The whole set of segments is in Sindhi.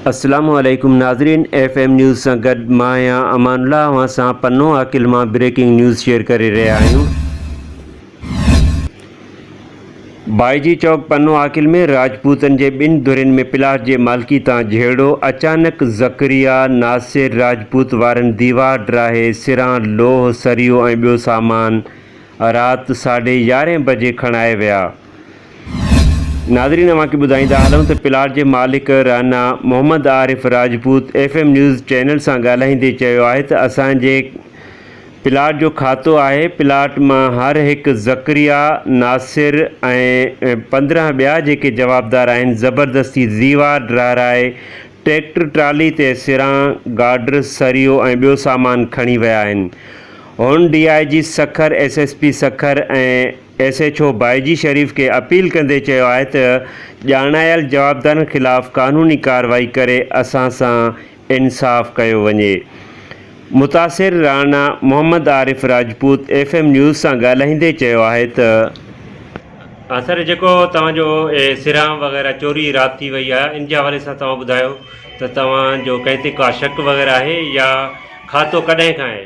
السلام عليڪم ناظرين ايف ايم نيوز سان گڏ مان آهيان امان الله اوهان سان پنو عاقل مان بريڪنگ نيوز شيئر ڪري رهيا آهيون بائجي چوڪ پنو عاقل ۾ راجپوتن جي ٻن ڌرين ۾ پلاٽ جي مالڪي تان جهيڙو، اچانڪ ذڪريا ناصر راجپوت وارن ديوار ڊاهي سران لوهه سريو ۽ ٻيو سامان رات ساڍي يارهين بجي کڻائي ويا. ناظرين اوهان کي ٻڌائيندا هلون ته پلاٽ جي مالڪ Rana Muhammad Arif Rajput F M news channel سان ڳالهائيندي چيو آهي ته اسان جي پلاٽ جو کاتو آهي، پلاٽ مان هر هڪ ذڪريا، ناصر ۽ پندرهن ٻيا جيڪي جوابدار آهن زبردستي زيوار ڊرارائي ٽريڪٽر ٽرالي تي سران، گارڊر، سريو ۽ ٻيو سامان کڻي ويا آهن. هن D I G Sukkur, S S P Sukkur ۽ S H O Baiji Sharif کي اپيل ڪندي چيو آهي ته ڄاڻايل جوابدارن خلاف قانوني ڪارروائي ڪري اسان سان انصاف ڪيو وڃي. متاثر Rana Muhammad Arif Rajput F M news سان ڳالهائيندي چيو آهي ته. ها سر جيڪو توهان جو اهي سرهان وغيره چوري رات ٿي وئي آهي ان جي حوالي سان توهان ٻڌايو ته توهان جو ڪنهن تي ڪا شڪ وغيره آهي يا کاتو ڪڏهن کان آهي؟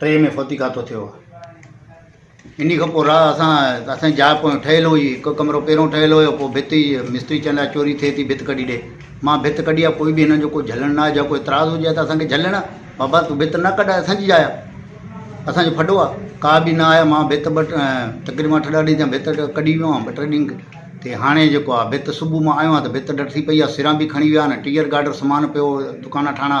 ٽي ۾ فوتي کاتو ٿيو هو اني کان پوء راهه اسان اسان جاء پوء ٺهيل هئي هڪ ڪمرو پهريون ٺهيل هيو پوء ڀت ئي مستري چئن لاء چوري ٿئي ٿي ڀت ڪڍي ڏي مان ڀت ڪڍي آ ڪوئي به هنن جو ڪو جهلڻ نه آهي جا ڪو اعتراض هجي ها ته اسان کي جهلڻ آ بابا تون ڀت نه ڪڍ اسان جي جاء آ اسان جو ڦڏو آ ڪا به نه آيا مان ڀت ٻه تقريبا اٺ ڏهه ڏينهن ٿيا ڀت ڪڍي ويو آهيان ٻه ٽي ڏينهن تي هاڻي جيڪو آ ڀت صبح مان آيو آهيان ته ڀت ڊٽ ٿي پئي آ سران به کڻي ويا آهن ٽيهر گاڊر سامان پيو دڪانا ٺاهڻا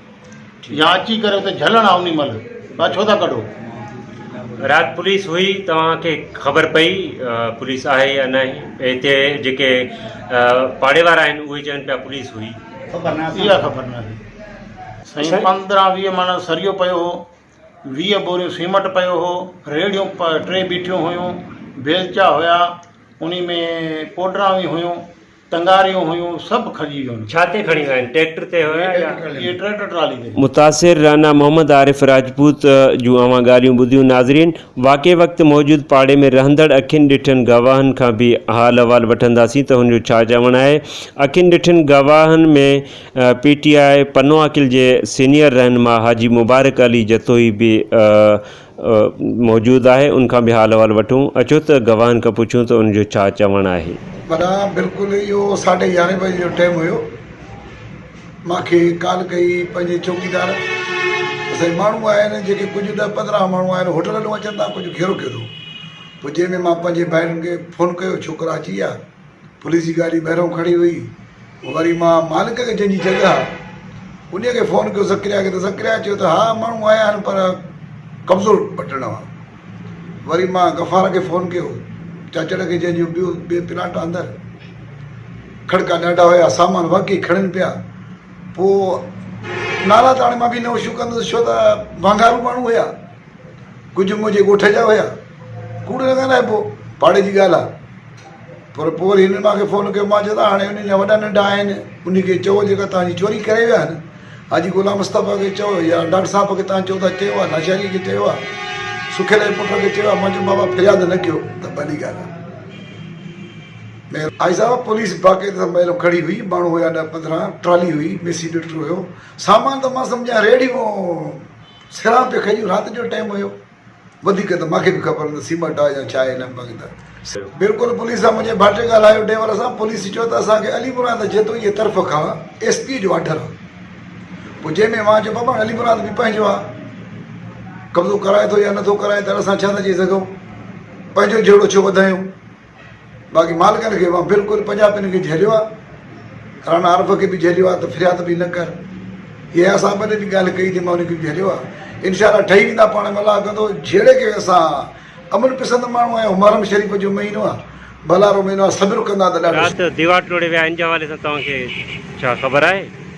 يا اچي ڪري اتي جهلڻ آ انهي مهل پئا ڇو ٿا ڪڍو. رات پوليس هئي توهان کي خبر پئي پوليس آهي يا ناهي هتي جيڪي پاڙي وارا آهن اهي چون پيا پوليس هئي. خبر ناهي اها خبر ناهي سائين پندرهن ويهه مڻ سريو پيو هو ويهه بوريون سيمٽ پيو هو ريڙهيون ٽي بيٺيون هيون بيلچا هيا انهي ۾ پوڊران به هيون ٽنگاريون هيون سڀ کڄي ويون. ڇا تي کڻي ويا آهن ٽريڪٽر تي هيا يا. اهي ٽريڪٽر ٽرالي تي. متاثر رانا محمد عارف راجپوت جون اوهان ڳالهيون ٻڌيون ناظرين واقعي وقت موجود پاڙي ۾ رهندڙ اکين ڏٺن گواهن کان به حال احوال وٺنداسين ته هن جو ڇا چوڻ آهي اکين ڏٺن گواهن ۾ پي ٽي آء پنو عاقل جي سينيئر رهنما حاجي مبارڪ علي جتوئي به موجود آهي ان کان به حال احوال وٺون اچو ته گواهن کان پڇون ته ان جو ڇا چوڻ آهي. ڀلا بلڪل اهو ساڍي يارهين بجي جو ٽيم هيو مان کي ڪال ڪئي پنهنجي چوڪيدار ته سائين ماڻهو آهن جيڪي ڪجهه ڏهه پندرهن ماڻهو آهن هوٽل ڏانهن اچن ٿا ڪجهه گهيرو ڪيو اٿئون پوء جنهن ۾ مان پنهنجي ڀائرن کي فون ڪيو ڇوڪرا اچي ويا پوليس جي گاڏي ٻاهرئون کڙي هئي وري مان مالڪ کي جنهنجي جڳهه آ انهي کي فون ڪيو زڪريا کي ته زڪريا چيو ته ها ماڻهو آيا آهن پر قبضو وٺڻ آ وري مان غفار کي فون ڪيو چاچڙ کي جنهنجو ٻيو ٻي پلاٽ اندر کڙڪا ڏاڍا هيا سامان واقعي کڻين پيا پوء نالا ته هاڻي مان به نه هوشيون ڪندس ڇو ته وانگارو ماڻهو هيا ڪجهه منهنجي ڳوٺ جا هيا. ڪوڙ نه ڳالهائبو، پاڙي جي ڳالهه آ. پر پوء وري هنن مان کي فون ڪيو، مان چيو ته هاڻي انهن جا وڏا ننڍا آهن، انهي کي چئو جيڪا توهان جي چوري ڪري ويا آهن، حاجي غلام مصطفيٰ کي چئو يا ڊاڪٽر صاحب کي توهان چئو ٿا چيو آ، لاشاريء کي چيو آ، سکيل جي پٽ کي چيو آ، مان چيو بابا فرياد نه ڪيو ته ڀلي ڳالهه آ. حاجي صاحب پوليس باقاعدي سان مهلو کڙي هئي، ماڻهو هيا ڏهه پندرهن، ٽرالي هئي، ميسي ڊڪٽر هيو، سامان ته مان سمجهان ريڙهيون. سيراب تي کڄيون رات جو ٽيم هيو وڌيڪ ته ماکي به خبر نه سيمٽ آهي يا ڇا آهي نه بنگ ته سيراب بلڪل پوليس سان منهنجي ڀاٽي ڳالهايو ڊيور سان پوليس چيو ته اسان کي علي مراد جتوئي طرف کان ايس پي جو آرڊر آهي پوء جنهن ۾ مان چيو بابا علي مراد به پنهنجو آهي قبضو ڪرائي ٿو يا نه ٿو ڪرائي ته اسان ڇا ٿا چئي سگهون پنهنجو جهيڙو ڇو وڌايون. باقي مالڪن کي اوهان بلڪل پنجابين کي جهليو آ رانا عارف کي به جهليو آ ته فرياد به نه ڪر اهي اسان ٻنهي جي ڳالهه ڪئي ٿي مان انهن کي به جهليو آ انشاء الله ٺهي ويندا پاڻ ۾ الله ڪندو جهيڙي کي اسان امن پسند ماڻهو آهيون محرم شريف جو مهينو آ ڀلارو مهينو آ صبر ڪندا ته ڏاڍو رات ديوار ٽوڙي ويا ان جي حوالي سان توهان کي ڇا خبر آهي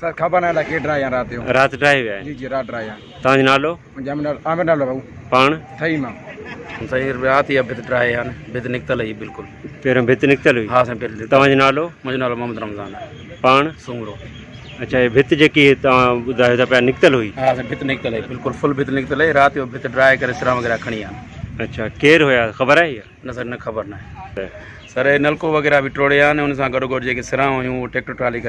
سر کبا نه ڪي ڊرائي آ رات جو رات ڊرائي ويا جي جي رات ڊرائي آ تانجو نالو منجا نالو عامر نالو بابو پاڻ ٺهي مان سائين رات يا بت ڊرائي آ بت نڪتل هي بالکل پهريون بت نڪتل هي ها سائين پهريون تانجو نالو منجا نالو محمد رمضان پاڻ سومرو اچھا هي بت جيڪي تان ٻڌايو ٿا پيا نڪتل هئي ها سائين بت نڪتل هئي بالکل فل بت نڪتل هئي رات جو بت ڊرائي ڪري سرا وغيره کڻي آ اچھا ڪير هيا خبر آهي نه سائين نه خبر نه سر هي نلڪو وغيره به ٽوڙي آ ان سان گڏو گڏ جيڪي سرا هيون ٽيڪٽر ٽرالي